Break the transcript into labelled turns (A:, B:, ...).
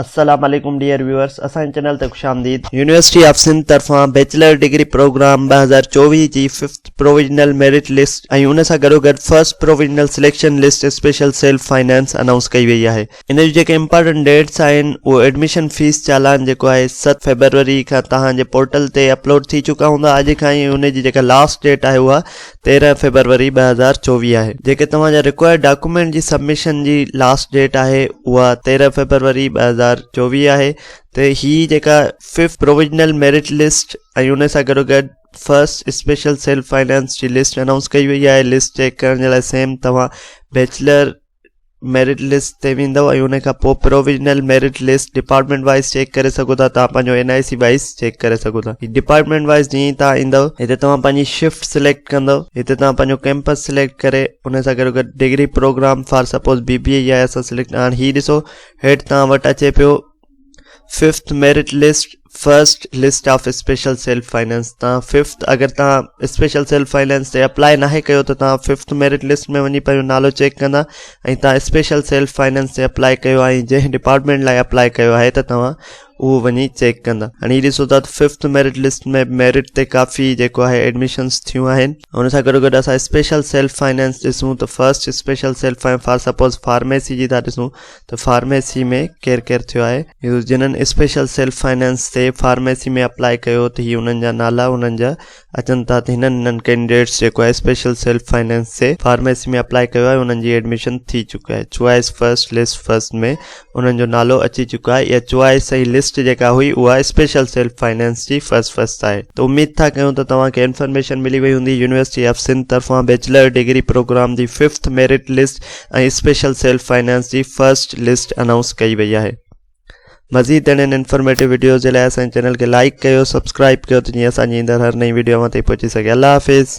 A: السلام عليڪم dear viewers اسان جي چينل تي خوش آمديد يونيورسٽي آف سنڌ طرفان بيچلر ڊگري پروگرام 2024 جي ففٿ پروويزنل ميرٽ لسٽ ۽ ان سان گڏو گڏ first provisional selection list special self finance announce ڪئي وئي آهي ان جون جيڪي امپارٽنٽ ڊيٽس آهن اهو ايڊميشن فيس چالان جيڪو آهي 7 فيبروري کان توهان جي پورٽل تي اپلوڊ ٿي چڪا هوندا اڄ کان ئي ان جي جيڪا لاسٽ ڊيٽ آهي اها تيرهن فيبروري ٻه هزار چوويهه آهي جيڪي توهان جا رڪوائرڊ ڊاڪومينٽ جي سبمشن جي لاسٽ ڊيٽ آهي اها تيرهن فيبروري ٻه هزار چوويهه آهي ته هي جيڪا ففٿ پرووجنل ميرٽ لسٽ ۽ ان سان گڏو گڏ فرسٽ اسپيشل سيلف فائنانس جي لسٽ انائونس ڪئي وئي آهي لسٽ چيڪ ڪرڻ جي لاء سيم توهان بيچلر ميرٽ لسٽ تي ويندو ۽ ان کان پوء provisional merit list department wise check ڪري سگهو ٿا توهان پنهنجو N I C wise check ڪري سگهو ٿا ڊپارٽمينٽ وائز جيئن ئي توهان ايندو هتي توهان پنهنجي شفٽ سليڪٽ ڪندو هتي توهان پنهنجو ڪيمپس سليڪٽ ڪري ان سان گڏو گڏ degree program for suppose B B A يا ايس سليڪٽ هاڻ هي ڏسو هيٺ توهان وٽ اچي پيو fifth merit list first list of special self finance تان ففٿ اگر تان اسپيشل سيلف فائنانس تي اپلاء ناهي ڪيو ته تان ففٿ ميرٽ لسٽ ۾ وڃي پنهنجو نالو چيڪ ڪندا ۽ تان اسپيشل سيلف فائنانس تي اپلاء ڪيو آهي جنهن ڊپارٽمينٽ لاء اپلاء ڪيو آهي ته توهان اهو وڃي چيڪ ڪندا هاڻي هي ڏسو ته ففٿ ميرٽ لسٽ ۾ ميرٽ تي ڪافي جيڪو آهي ايڊمشنس ٿيون آهن ان سان گڏو گڏ اسان اسپيشل سيلف فائنانس ڏسون ته first special self for suppose pharmacy جي ٿا ڏسون ته فارميسي ۾ ڪير ڪير ٿيو آهي يوز جنھن اسپيشل سيلف فنانس تي فارميسي ۾ اپلاء ڪيو ته هي انھن جا نالا انھن جا اچن ٿا ته هنن هنن ڪينڊيڊيٽس جيڪو آهي اسپيشل سيلف فنانس تي فارميسي ۾ اپلاء ڪيو آهي انھن جي ايڊميشن ٿي چڪي آهي چوائس فرسٽ لسٽ فرسٽ ۾ انھن جو نالو اچي چڪو آهي اها چوائس ۽ لسٽ جيڪا هئي اها اسپيشل سيلف فنانس جي فرسٽ فرسٽ آهي ته اميد ٿا ڪيون ته توهان کي انفارميشن ملي وئي هوندي يونيورسٽي آف سنڌ طرفان بيچلر ڊگري پروگرام جي fifth merit list ۽ special self finance جي فرسٽ لسٽ انائونس ڪئي وئي آهي مزيد اهڙين انفارميٽو ويڊيوز جي لاء اسان چينل کي لائڪ ڪيو سبسڪرائب ڪيو ته جيئن اسان جي ايندڙ هر نئين ويڊيو اوهان تائين پهچي سگهي الله حافظ